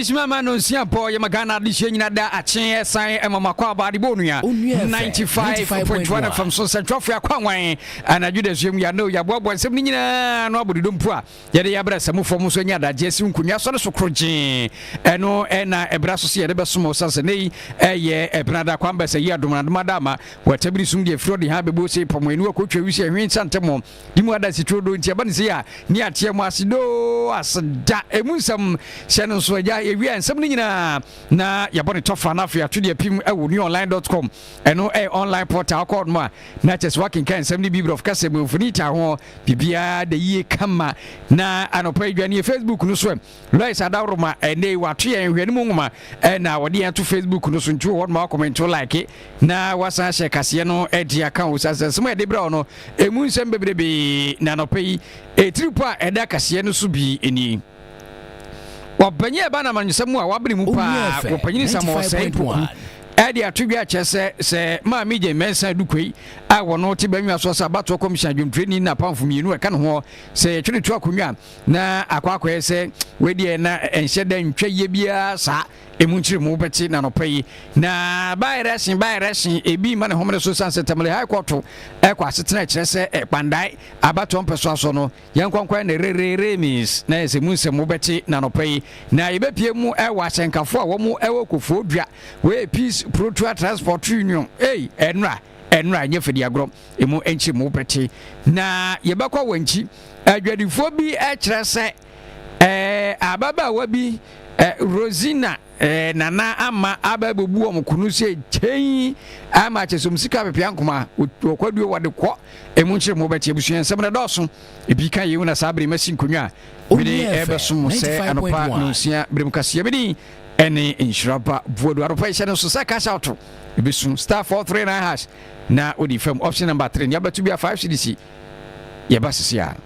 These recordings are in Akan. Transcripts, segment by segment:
adesima ma no nsia pɔ yɛ ma ghana adehyeɛ nyina da akyeɛ san ɛma makɔ aba adebɔ onua 95.1 fam so nsɛntwerɛfoɔ akwanwan Anadwo dasuam yi, anoo, yɛaboaboa nsɛm no nyinaa ano abɔ dodom mpo a, yɛde yɛabrɛ asamu fam nso anya adagye asi nkonnwa so ne so korogyee. Ɛno na ɛbra so sɛ yɛde bɛsom wɔ osiane sɛ nnɛ yi ɛyɛ Ɛpenada, Kwambɛs, ayi adom na adom adaama. Wɔ atabiri som deɛ firi ɔde ha bɛbɔ ose pɔ mo aniwa kɔtwa wisi ɛhwe nsa ntɛmɔ di mu adanse turo do nti ɛba no sei a ne ateɛ mu ase doo aseda ɛmu nsɛm hyɛ no nso agya yɛwie nsɛm no nyinaa na yɛbɔ ne tɔfa no afei ato deɛ pim ɛwɔ newonline.com ɛno ɛyɛ online portal kɔɔ no a Na kyɛ sɛ woakenkan nsɛm no bi Borɔfo kasa mu, Funita ho, biribiara da yie kama. Na anɔpa yi dwaneɛ Facebook no so ɛ. Lois Adaworoma, ɛnnɛ yi wato yɛn nhwɛne mu nwoma na ɔde yɛn ato Facebook no so. Nti wɔ hɔ noma woakɔmɛnte, wo like, na woasan ahyɛ kaseɛ no de aka o. Sane sɛ nsɛm a yɛde brɛ wo no, ɛmu nsɛm bebrebee. Na anɔpa yi, ɛtiripo a ɛda kaseɛ no so bi nie. Ɔpanyin a ɛba no amanyɔsɛm mu a wabere mu paa wɔ panyin nsam wɔ ɔsɛe mpoku ɛde ato dwa kyerɛ sɛ sɛ maame gye mɛnsa dukoi a wɔn te bɛnwa so sɛ abatoɔ kɔmhyɛn adwomtirani na apamfo mmienu ɛka ne ho sɛ yɛtwere to akonnwa na akɔ akɔyɛ sɛ wɔadiɛ na ɛnhyɛ da ntwa yie biara saa ɛmu nkyerɛ mu bɛte na nɔpɛ yi na baayerɛ hye baayerɛ hye ebi ma ne homene so san sɛ tamale high court ɛkɔ asetena kyerɛ sɛ ɛkpandae abatoɔ mpɛsoa so no Yɛn nkɔnkɔɛ ne Rereree means na yɛ sɛ mu nsɛm wo bɛte na nɔpɛ yi na yɛ bɛ pie mu wɔ ahyɛnkafo a wɔn wɔ kofoɔ dua wɔ yɛ peace protoa transport union ei ɛnra ɛnra nyɛ fɛ di agorɔ emu nkyi mu bɛ te na yɛ bɛ kɔ wɔ nkyi adwadifoɔ bi ɛkyerɛ sɛ ɛɛ ababaawa bi ɛɛ Rosina Eh, Nana ama aba bɛbu wɔn kunu sɛ kyɛn ama kyɛ sɛ wɔn sika pepea nkoma wɔkwaduo wɔde kɔ ɛmu nkyerɛ mu wɔbɛte abusua nsɛm no dɔɔso ebi ka yei na saa bere masi nkonnwa a mede ɛbɛsom mo sɛ anɔpa nonsia berem kaseɛ me din ɛne nhyira ba boadu anɔpa ɛhyɛ no so sɛ cash out ɛbɛsu star 439 hash na wode fam option number 3 nea bɛto bi a 5 cdc yɛba sese a.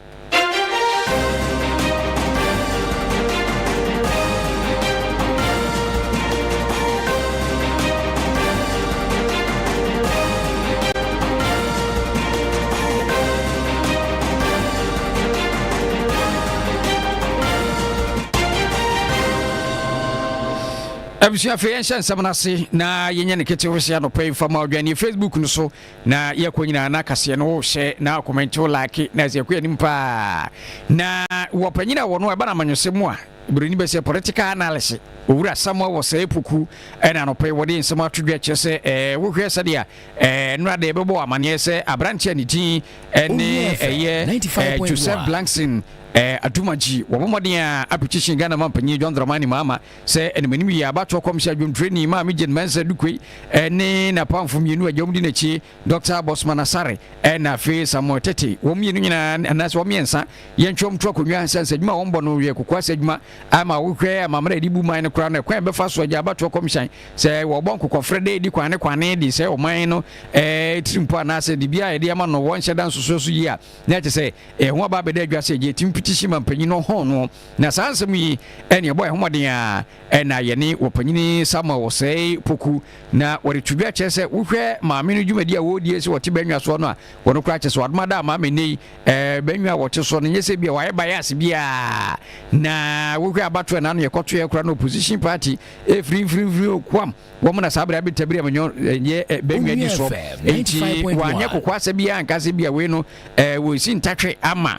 abusua afei yɛnhyɛ nsɛm no ase na yɛnyɛ no ketewe sɛ anɔpa yi mfama ɔdwane facebook no so Na yɛkɔ nyinaa na kaseɛ no wohyɛ na akɔmɛnte wo like na ɛsɛ yɛkɔ anim paa na wɔ panyin a wɔno ɛba na amanyɔsɛm mu a buroni bɛ sɛ political analysis owura samuel wɔ sɛ epoku ɛna anɔpɛ yi wɔde nsɛm ato dwa kyerɛ sɛ ɛɛ wohwɛ sɛdeɛ ɛɛ nnora de ɛbɛbɔ amaneɛ sɛ aberante a ne din ɛne ɛyɛ joseph blankson ɛɛ adumagye wɔn mmɔden a apetition ghana ma mpanyin john dramani mahama Sɛ animanim yie a, abatoɔ kɔmhyɛ adwomtwerɛni Maame Jane Mensah Dukwei ne n'apamfo mmienu agya wɔn di n'akyi Dɔkta Bosman Asare ɛna afei Samuel Tete. Wɔn mmienu nyinaa anaasɛ wɔn mmiɛnsa yɛntwerɛ wɔn to akonnwa ɛsiane sɛ adwuma a wɔbɔ no yɛ kokoa sɛ adwuma a ma wohwɛ amammerɛ a yɛde bu man no koraa no ɛkwan a yɛbɛfa so agya abatoɔ kɔmhyɛn sɛ wɔbɔ nkokɔfrɛ dɛ di kwane kwane de sɛ ɔman no tirimpo anaasɛ de biara a yɛde ama no wɔnhyɛ da nsosoɛ so yie a na ɛte sɛ ɛho aba abɛda adwa sɛ ɛgye ɛtim petition ma mpanyin no hɔn no. Na saa nsɛm yi ne ɛbɔɔ yɛn ho mmɔden a ɛna yɛne wɔpanyin Samuel wɔsɛe poku. Na wɔde to dwa kyerɛ sɛ wohwɛ maame no dwumadi a wɔredie sɛ wɔte bɛnwa soɔ no a, wɔn koraa kyerɛ sɛ wɔadoma da ama ama nnɛyi eh, bɛnwa a wɔte soɔ no nyɛ sɛ bi a wɔayɛ bayase biara. Na wohwɛ abatoɔ a n'ano yɛkɔtoeɛ koraa no opposition party ɛfiri mfirimfiri okuam wɔn na saa berɛ abetabiri amanyɔ ɛnyɛ eh, bɛnwa di soɔ. Enti wɔanyɛ kokoasɛ biara nka sɛ bi a wei no eh, wɔresi ntatwe ama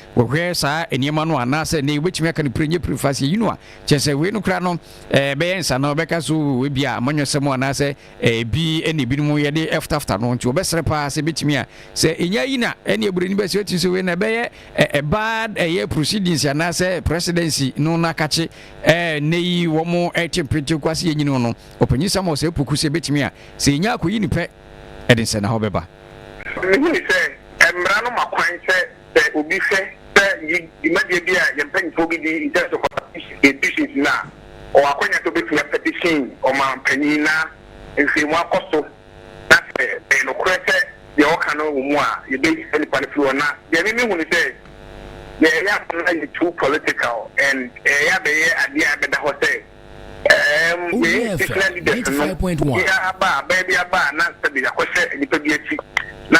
Wɔhwɛ saa nneɛma no a, anaasɛ nea wobɛtumi aka no pire nyɛ pire fa sɛ, yi no a, kyerɛ sɛ wei no koraa no ɛbɛyɛ nsa no bɛka sɛ oo ebi a amanyɔsɛm anaasɛ ebi na ebinom yɛde fotafota no nti wɔbɛsrɛ paa sɛ ebɛtumi a sɛ ɛnya yi na ɛne aburoni bɛsɛ ɛtumi sɛ wei na ɛbɛyɛ ɛbaa ɛyɛ proceedings anaasɛ presidency no no akakye ɛnɛ yi wɔn ɛte mpente kwase yɛ nyini no ɔpanyin Samuel sɛ ɛpoku sɛ ɛbɛtumi a sɛ ɛnya akɔyi ne pɛ ɛde nsɛnahɔ bɛba. Mehunu sɛ mmara no ma kwan sɛ Sɛ obi hwɛ sɛ dwumadie bi a yɛn mpanyinfoɔ bi di, in terms of participation in elections no a, ɔwɔ akwanya sɛ obetumi a petition ɔmanpanyin na nhwehwɛmu akɔ so na sɛ ɛyɛ nokorɛ sɛ deɛ ɔka no wɔ mu a, yɛbɛyi saa nipa no firi hɔ. Na deɛ me mehu ne sɛ, deɛ ɛyɛ aba no ayɛ too political and ɛyɛ abɛyɛ adeɛ a ɛbɛda hɔ sɛ ɛɛm yɛn institutional leaders no, obiara ba a, bɛɛ bi aba a na sɛbe yɛakɔhyɛ nipa bi akyi na.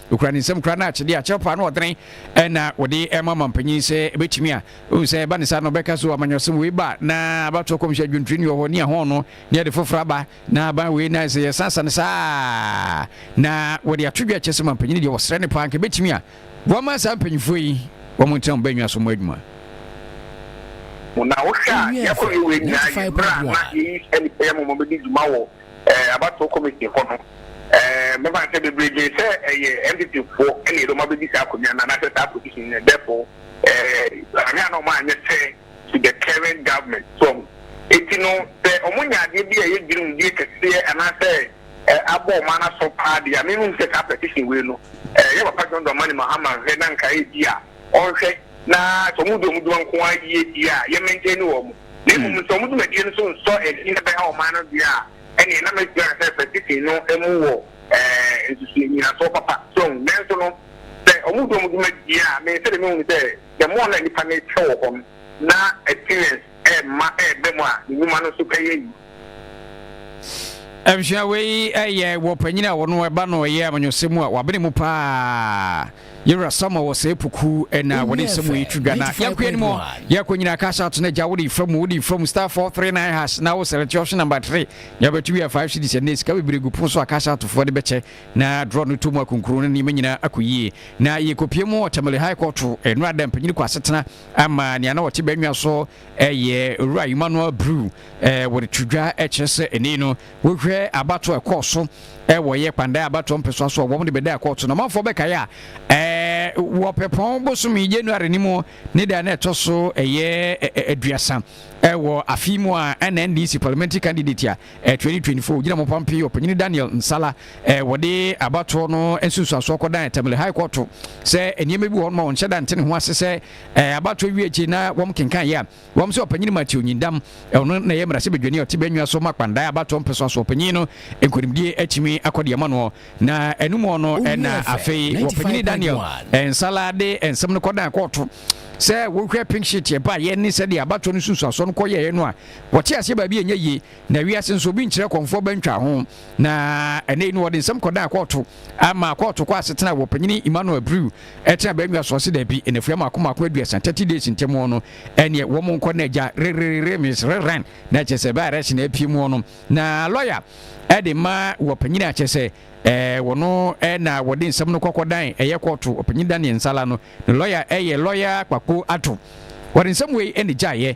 Okura ne nsam kura no akyede a kyerɛwpaa no ɔdene ɛna wɔde ɛma ɔmampanyin sɛ ɛbɛtumi a ohun sɛ ɛba ne saa no ɔbɛka so amanyɔsɛm wei ba na abatoɔ kɔmhyɛ adwontireni wɔ hɔ ne ahɔn no ne ɛde foforɔ aba na aban wei na sɛ yɛsansa no saa na wɔde ato dwa kyɛ sɛ mampanyin deɛ wɔsrɛ ne paa nka ɛbɛtumi a wɔma saa mpanyinfoɔ yi wɔn ntena wɔn bɛnwa so mo adwuma na wohwɛ a yɛkɔ yɛ wei nyinaa yɛ mmerɛ a na yɛyi ɛne ɛyɛ mɔmɔ bɛdi dwuma wɔ eh, abatoɔ committee hɔ no, eh, mɛfa sɛ bebree dwen sɛ ɛyɛ eh, NPP foɔ ɛna yɛde wɔn abɛdi saa akonnwa no anaasɛ saa position no, therefore eh, ahwɛ a na wɔn anyɛ sɛ to the current government so eti no sɛ wɔn nya adeɛ bi a ɛyɛ dwiriwdie kɛseɛ anaasɛ eh, abɔ wɔn ano aso paa deɛ a mehu sɛ saa petition wei no eh, yɛ papa John Dramani Mahama nhwɛ na nkae bi a ɔnhwɛ na sɛ wɔn di wɔn dwuma nko ara yie deɛ a yɛ maintain wɔn. na mmom sɛ wɔn dwumadie no nso nsɔ ani na ɛbɛha ɔman no deɛ a, ɛnneɛ na mɛtumi aka sɛ Pacific no mu wɔ nsusuiɛ nnyinasoɔ papa. So wohu? Nanso no, sɛ wɔdi wɔn dwumadie a, me sɛdeɛ mehu no sɛ, the more na nnipa no rekyɛ wɔ hɔ no, na experience rema ɛreba mu a ne nnwuma no nso bɛyɛ yie. abusua wei ɛyɛ wɔ panyin a wɔn ɛba no ɛyɛ amanyɔsɛm mu a wabene mu paa yɛwura sama wɔ sɛ puku ɛna wɔde nsɛm yi twi dwa na yɛnkoyɛ no mu yɛkɔ nyina cash out no agya wode fa mu wode fa mu star 439 hash na wo sɛlɛte option number 3 na wobɛto wia 5 cities ɛnɛ sika bebree gu pono so a cash outfoɔ de bɛkyɛ na draw no to mu akonkuro no nneɛma nyinaa akɔ yie na yɛkɔpie mu ɔtamale high court ɛno ada mpanyini kɔ asetena ama nea na ɔte bɛnwa so Ɛyɛ Owura Emmanuel Brew wɔde to dwa kyerɛ sɛ ɛnɛ no wohwɛ abatoɔ a ɛkɔɔ so wɔ yɛ kpandan abatoɔ mpɛsoa so a wɔn de bɛda ɛkɔɔ so na ɔmanfoɔ bɛkae a wɔ pɛpɔn bosome January no mu ne da na ɛtɔ so ɛyɛ aduasa wɔ afe mu a ɛna NDC parliamentary candidate a 2024 gyina mɔpam pii ɔpanyini Daniel Nsala wɔde abatoɔ no nsunsuansoɔ kɔdan Tamale High Court sɛ nneɛma bi wɔ hɔ no ma wɔnhyɛ da nte ne ho ase sɛ Ɛɛ abatoɔ wie akyi na wɔn kenkan yɛ a, wɔn sɛ ɔpanyin Matthew Nyindam, ɔno na ɛyɛ mmarahyɛbadwani a ɔte Bɛnwia so ma Kpandae abatoɔ mpɛsoa so ɔpanyin no nkonimdie akyimi akɔ deɛ ma noɔ na anumɔ no na afei ɔpanyini Daniel Nsala de nsɛm no kɔdan kɔɔto. Sɛ wo hwɛ pink sheet ɛbaa yɛ ne sɛdeɛ abatoɔ no nsunsuasoɔ no kɔ yɛɛ no a, wɔte aseɛ baabi a ɛnyɛ yie na wiase nso obi nkyerɛ kɔmfoɔ bɛntwa ho na ɛnɛ yi no wɔde nsɛm kɔdan kɔɔto ama kɔɔto kɔ asetena wɔ ɔpanyini Emmanuel Abreu Ɛtena baanwia so ɔse dabi nnafua mmaako mmaako aduasa, thirty days, ntɛm hɔ no ɛneɛ wɔmo nkɔ na agya rererere means rerun na kyɛsɛ bɛ arrest na apue mu hɔ no na lawyer ɛde ma wɔ panyin a kyɛsɛ ɛɛ wɔno ɛna wɔde nsɛm no kɔkɔ dan ɛyɛ kɔɔto ɔpanyin Daniel Nsala no ne lawyer ɛyɛ lawyer Kpakpo Addo wɔde nsɛm wei ɛna gyaeɛ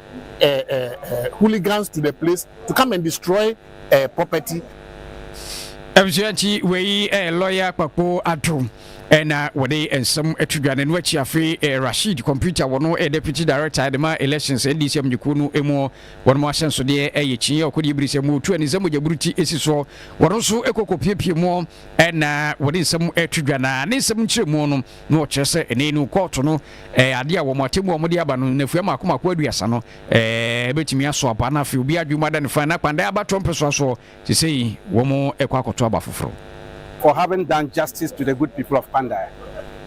uh, uh, uh, hooligans to the place to come and destroy uh, property. abusua nti wei eh, lɔya kpakpo ato ɛna eh, wɔde nsɛm ato dwa no ɛno akyi afei eh, rashid computer wɔno eh, deputy director de ma elections ndc amanyɛkuo no mu wɔnom ahyɛnsodeɛ ɛyɛ kyiɛ ɔkɔdeɛ biri sɛ mu ɔtu ani sɛ mogyaburu ti ɛsi soɔ wɔno nso ɛkɔkɔ piepie mu ɛna wɔde nsɛm ato dwa na ne nsɛm nkyerɛ mu no na ɔkyerɛ sɛ ɛnnɛ yi no kɔɔto no ɛyɛ adeɛ a wɔn atemmu a wɔde aba no nnafua mmaako mmaako aduasa no ɛɛ ɛbɛtumi aso aba na afei obi adwuma da ne fan na kpandan aba trɔ mpɛsoa soɔ te sɛ yi wɔn ɛkɔ akɔto aba foforɔ. for having done justice to the good people of Kpandai.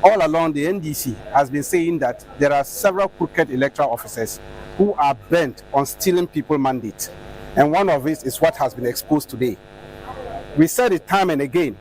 All along the NDC has been saying that there are several crooked electoral officers who are bent on stealing people mandate and one of it is what has been exposed today. We said it time and again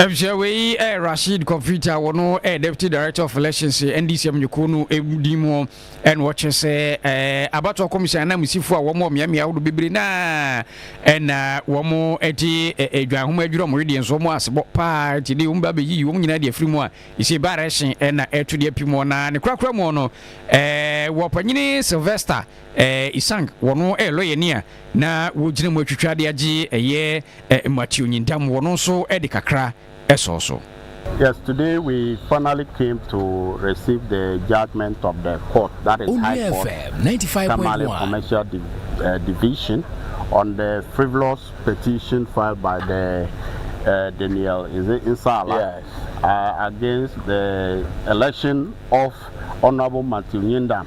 Efisɛ wei yɛ Rashid Kofit a wɔno yɛ Deputy Director of Elections NDC amanyɔkuo no din mu ɛna ɔkyerɛ sɛ abatoɔ kɔmhyɛn ananmusifo a wɔn wɔ mmeammea ahodoɔ bebree na ɛna wɔn ɛte adwan ho adwiri wɔn wedeɛ nso wɔn asebɔ paa nti de wɔn ba bɛyiyi wɔn nyinaa de afiri mu a ɛsɛ ba rɛhyen ɛna ɛto de api mu na ne korakora mu no wɔ panyini Sylvester Isang wɔno ɛyɛ lɔyɛni a Na wogyina mu atwitwa ade agye ɛyɛ Matthew Nyindam wɔno nso de kakra sɔɔ so. Yes today we finally came to receive the judgement of the court that is High Court Tamale Commercial Division on the frivolous petition filed by the uh, Daniel is it Nsala yes. uh, against the election of Honorable Matthew Nyindam.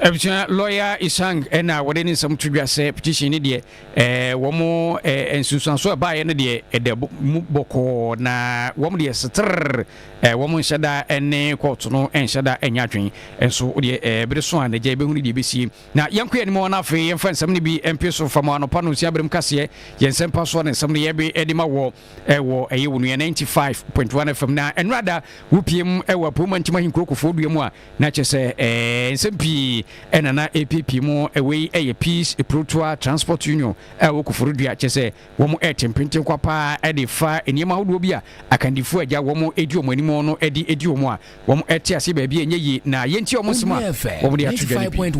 Abusua lɔya Isang na wɔde ne nsɛm to dwa sɛ petition no deɛ ɛɛ wɔn ɛɛ nsunsuanso a ɛbaeɛ no deɛ ɛda mu bɔkɔɔ na wɔn deɛ setere ɛɛ wɔn nhyɛ da ne kɔɔto no nhyɛ da nyɛ adwene nso deɛ ɛɛ bere so a n'agya ebehu ne deɛ ebesie na yɛn kɔ yɛn anim na afei yɛn fa nsɛm no bi mpie so fa mu anɔpa no nsia berem kaseɛ yɛn nsɛm pa so ne nsɛm no yɛbe ɛde ma wɔ ɛwɔ ɛyɛ wɔn nua ninety five point one fm na ɛnora da wopiem ɛwɔ apoma ntima hinkurokofo dua mu a Na kyerɛ sɛ ɛɛ nsɛm pii na na ɛrepiapia mu. Wei yɛ Peace Epurotoa Transport Union a ɛwɔ Koforidua. Kyerɛ sɛ wɔn rete mpenten kwa pa ara de refa nneɛma ahodoɔ bi a Akandifoɔ a agya wɔn di wɔn anim no de adi wɔn a wɔte aseɛ baabi a ɛnyɛ yie na yɛntie wɔn nsɛm a wɔde ato dwa no bi.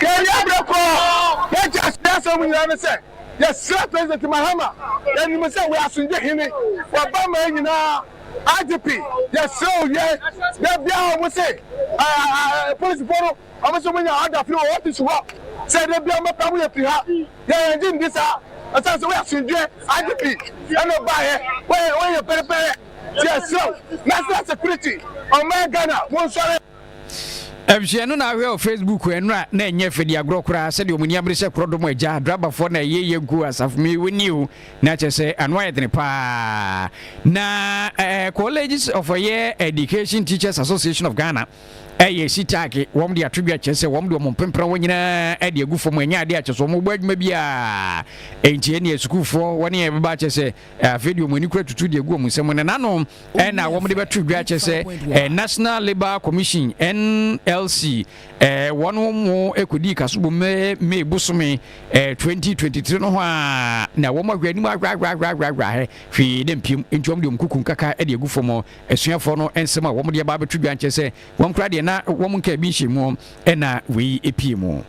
Yɛn yɛabrɛ kɔɔ Teachers Yɛasrɛ mo nyinaa ne sɛ yɛsrɛ President Mahama, yɛnim sɛ woyɛ asomdwe hene, w'aba man nyinaa IGP yɛsrɛ wo wiɛ da biara ɔmo se polisifo no ɔmo se ɔmo nya order firi wɔ office hɔ sɛ da biara ɔmo pɛ ɔmo yɛ firi ha yɛ yɛn gye ndi saa ɛsan sɛ woyɛ asomdwie IGP ɛna ɔbaayɛ woyɛ woyɛ pɛrɛpɛrɛ yɛsrɛ wo national security ɔmo yɛ Ghana mo nsɔre. Nhwɛ no na ahwɛ wɔ Facebook ɛ no a na ɛnyɛ fɛ di agorɔ koraa sɛ deɛ wɔn ani abere sɛ korɔ dɔm agya adrabafoɔ na ɛyɛ yɛ nkuo asafo mi wɔ ni o na kyɛ sɛ ano ayɛ dene paa na eh, Colleges of Higher Education Teachers Association of Ghana ɛyɛ sitaake wɔn de ato dwa kyɛ sɛ wɔn de wɔn mpempran wɔn nyinaa ɛde agu fam ɛnyɛ adeɛ akyɛ so wɔn bɔ adwuma biara ɛnti ɛne sukuufoɔ wɔn yɛ bɛba akyɛ sɛ Afei deɛ wɔn ani kura tutu deɛ egu wɔn nsam no n'ano na wɔn de bɛto dwa kyɛ sɛ eh, National Labour Commission NLC eh, wɔn mo ekodi kasobo May May bosome 2023 eh, no ho a na wɔn ahwɛ anim ahwɛahwɛahwɛahwɛ hɛ hwee dɛ mpiem nti wɔn de wɔn kuku nkaka de egu fam asuafoɔ no nsɛm a wɔn de aba abɛto dwa kyɛ sɛ wɔn kura deɛ na wɔn nka ebi nhyɛ mu Ɛna wei pie mu.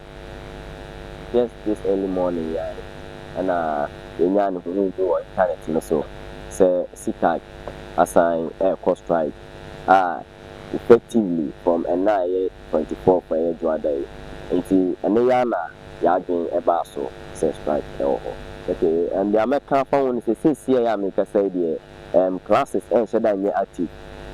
Just this early morning yi ara ɛna yɛnyaa ne hunuu bi wɔ internet no so sɛ CCAG asan rekɔ strike a effectively from ɛna a ɛyɛ twenty fourth a ɛyɛ Dwoada yi. Nti ɛno yi ara na y'adwen baa so sɛ strike wɔ hɔ. Okay, nea mɛka afa ho ne sɛ seesei a merekasa yi deɛ, Ɛɛm classes ɛnhyɛ da nyɛ active.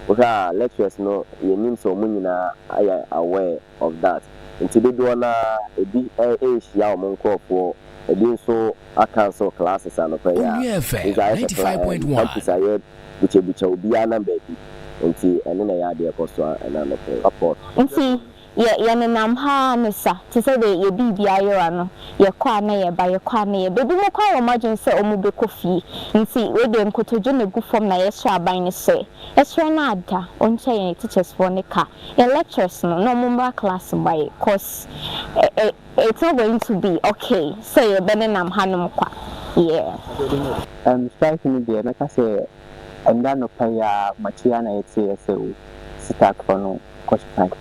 Wohwɛ a lecturers no yɛnnim sɛ wɔn nyinaa ayɛ aware of that. Nti dodoɔ no ara ebi ɛnhyia wɔn nkorɔfoɔ, ebi nso a cancel classes anɔpa yi a. Nso ayɛ sɛ kla ɛɛm campus ayɛ bukyabukya obiara nam baabi. Nti ɛno na ɛyɛ adeɛ ɛkɔ so ɛna anɔpa yi. Report. Nti Yɛ, yɛnenam ha ara ne sa, te sɛ deɛ yɛ biribi ayɛ wa no, yɛkɔ a na yɛba, yɛkɔ a na yɛba. Ebi mo koraa wɔ mo adwene sɛ ɔmo bɛkɔ fie, nti wei deɛ nkotodwe na egu fam na yɛsrɛ aban no sɛ, ɛsrɛ no ada, ɔntua yɛn teachers foɔ no ka, yɛn lecturers no, na ɔmo mmra class mmae, cos ɛ, ɛ, it's not going to be okay sɛ yɛbɛnenam hanom kwa, yeah. Ɛm, strike no deɛ, mɛka sɛ Ɛnnɛ anɔpa yi ara makye ara na yɛteeɛ sɛ o sitaakfoɔ no kɔ strike.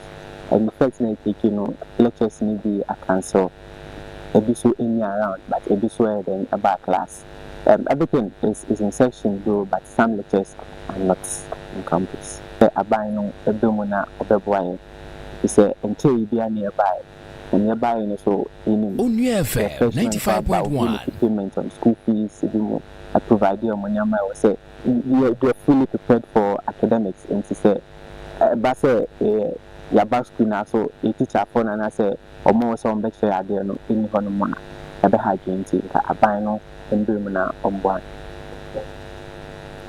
And the first night akyi no lectures no bi acancel, ebi nso nni around but ebi nso ɛyɛ dɛn ɛbaa class. Um, everything is is in session though but some lectures are not on campus. Sɛ aban no ɛbɛ mu na ɔbɛboa yɛn, ɛfiri sɛ ɛnkyɛree biara na yɛbaeɛ. nea ɛbae no so nim. Onua FM ninety five point one. payment on school fees bi mu a provide wɔn nneɛma a ɛwɔ sɛ yɛ they are fully prepared for academics nti sɛ ɛba sɛ yɛ yaba school na so yɛ teacherfoɔ no anaasɛ wɔn a ɛwɔ sɛ wɔn bɛkyerɛ adeɛ no nni hɔ nom a ɛbɛha adwene nti nka aban no mbrɛ mu na wɔn boa no.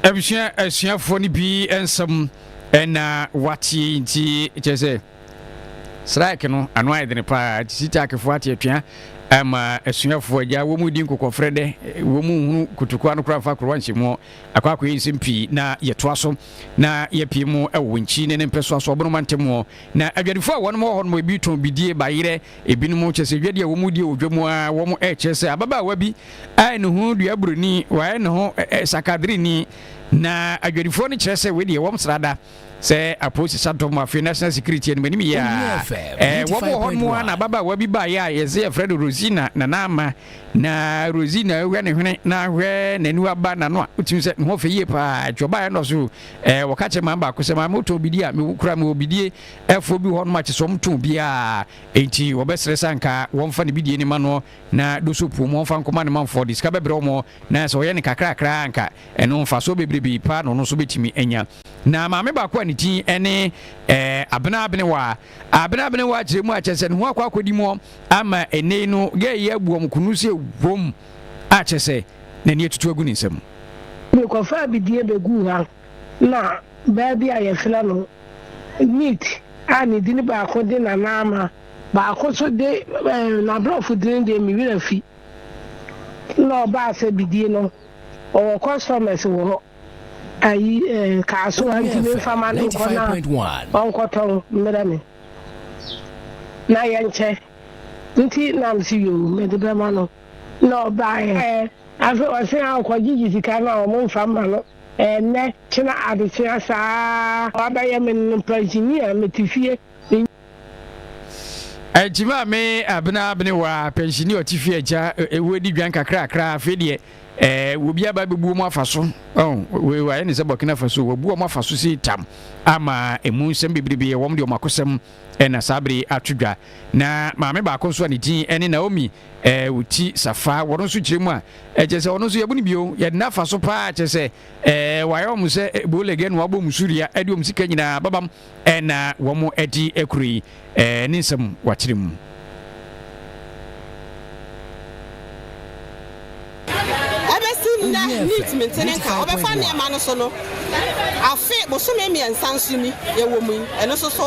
Abusua asuafoɔ no bi nsɛm ɛna wateɛ nti kyerɛ sɛ. Strike no ano ayɛ dene paa nti Sitakefo ate atua ama asuafo agya wɔn redi nkokɔfrɛ dɛ wɔn nhunu kutukoa no kora mfa korowa nhyɛmu akɔ akɔyɛ nsɛm pii na yɛtoa so na yɛpie mu wɔ nkyi ne ne mpɛsoa so ɔbonoma ntam na adwadifo a wɔn wɔ hɔ no ebi tɔn bidie ba yerɛ ebinom kyɛ sɛ adwadi a wɔn redi wɔ dwa mu a wɔn ɛkyerɛ sɛ ababaawa bi a ne ho dua buroni wɔayɛ ne ho sakadreni na adwadifoɔ no kyerɛ sɛ wei deɛ wɔn srada sɛ apolisi sa dɔm afei national security anim anim yɛ a wɔbɔ hɔ no a na ababaawa bi baeɛ a yɛsɛ yɛfrɛ no rosina nana ama na rosina hwɛ ne hwene na hwɛ n'ani aba n'ano a wotumi sɛ ne ho fɛ yie paa ɛtwa ɔbaeɛ no so wɔka kyerɛ maa baako sɛ maa motɔn bidie a mekura me wɔ bidie ɛfoɔ bi hɔ no makyɛ sɛ ɔmtɔn biaa enti wɔbɛserɛ sɛ anka wɔmfa ne bidie no ma no na doso puo mu wɔmfa nkɔma ne manfoɔ de sika bɛbrɛ wɔn na sɛ ɔyɛ ne kakrakra anka ɛno mfasoɔ bebrebe paa na ɔno nso bɛtumi anya Na maame baako a ne din ne ɛɛ Abena Abenewa a Abena Abenewa akyerɛ mu akyɛ sɛ ne ho akɔ akɔdi mu ama ɛnɛyi no gɛɛ yi abu wɔn kunu sɛ wom akyɛ sɛ n'ani atutu agu ne nsam. Mekɔfaa bidie bɛguu ha na baa bi a yɛfrɛ no Neat a ne din baako de Nana Ama baako nso de ɛɛ n'aborɔfo din deɛ me werɛ afi na ɔbaa sɛ bidie no ɔwɔ customers wɔ hɔ. ayi eh, kaa so a ntumi mfa ma no nkɔ na ɔnkɔtɔn mmerɛ me na yɛnkyɛ nti na mese yoo mede bɛma no na ɔbaeɛ eh, afe ɔse a ɔkɔgyegye sika no a ɔmo mfa ma no ɛnɛ kyena adekyea saa wabɛyɛ me no pansini a mete fie Akyima me abena abene wa pɛnsini ɔte fie agya ɛwɔ di dwan kakrakra afei deɛ ɛɛ obi aba bɛbuo mu afa so wei wayɛ ne sɛ Burkina Faso wabuo mu afa so si tam ama ɛmu nsɛm bebrebe wɔm deɛ ɔmakosɛm ɛna saa bere ato dwa na maame baako nso a ne din ɛne Naomi ɛɛ ɔti safa wɔno nso kyerɛ mu a ɛkyɛ sɛ ɔno nso yɛbu no bio yɛde no afa so paa kyɛ sɛ ɛɛ wayɛ ɔm sɛ ɛbo lɛgɛ no wabɔ mu suria ɛde ɔm sika nyinaa babam na wɔadi kuro yi ne nsam wakyere mu. Ɛbɛsi nnɛ Neat Mintin nka a wɔbɛfa nneɛma no so no afe bosome mmiɛnsa nso ni yɛwɔ mu yi, ɛno nso so.